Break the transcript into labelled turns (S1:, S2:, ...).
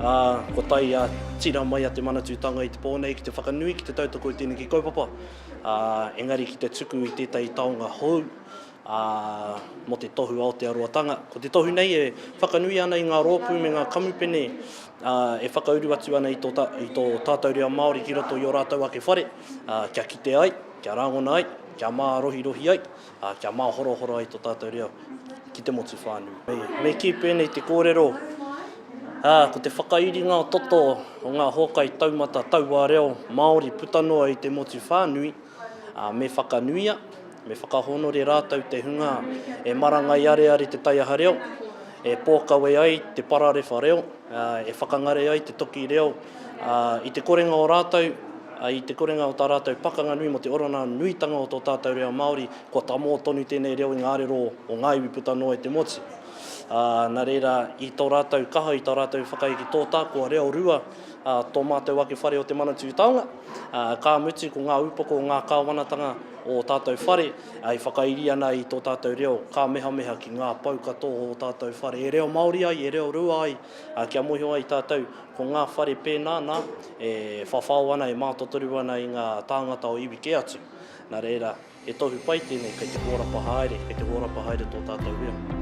S1: Ā, kua tae a tira mai a Te Manatūtanga i te pō nei ki te whakanui ki te tautoko i tēneki kaupapa, ā, engari ki te tuku i tētahi taonga hou, ā, mō te tohu Aotearoatanga. Ko te tohu nei e whakanui ana i ngā rōpū me ngā kamupene, ā, e whakauru atu ana i tō, i tō tātou reo Māori ki roto i ō rātou ake whare, ā, kia kite ai, kia rāngona ai, kia mārohirohi ai, ā, kia māhorohoro ai tō tātou reo ki te motu whānui. Me kī pēnei te kōrero, ā, ko te whakairinga o toto o ngā hōkai taumata tauā reo Māori puta noa i te motu whānui, ā, me whakanuia, me whakahōnore rātou te hunga e marangai areare te taiaha reo, e pōkawe ai te pararewha reo, e whakangare ai te toki reo i te korenga o rātou, i te korenga o tā rātou pakanga nui mō te oranga nuitanga o tō tātou reo Māori, kua tamō tonu tēnei reo i ngā arero o ngā iwi puta noa i te motu. Nā reira, i tō rātou kaha, i tā rātou whakaeke tōtā, kua reo rua tō mātou ake whare o Te Manatū Taonga, ka mutu ko ngā upoko o ngā kāwanatanga o tātou whare, E whakairi ana i tō tātou reo, kāmehameha ki ngā pou katoa o ō tātou whare. E reo Māori ai, e reo rua ai, ā, kia mōhio ai tātou, ko ngā whare pēnā, nā, e whawhao ana, e mātotoru ana i ngā tāngata o iwi kē atu. Nā reira, he tohu pai tēnei, kei te hōrapa haere, kei te hōrapa haere tō tātou reo.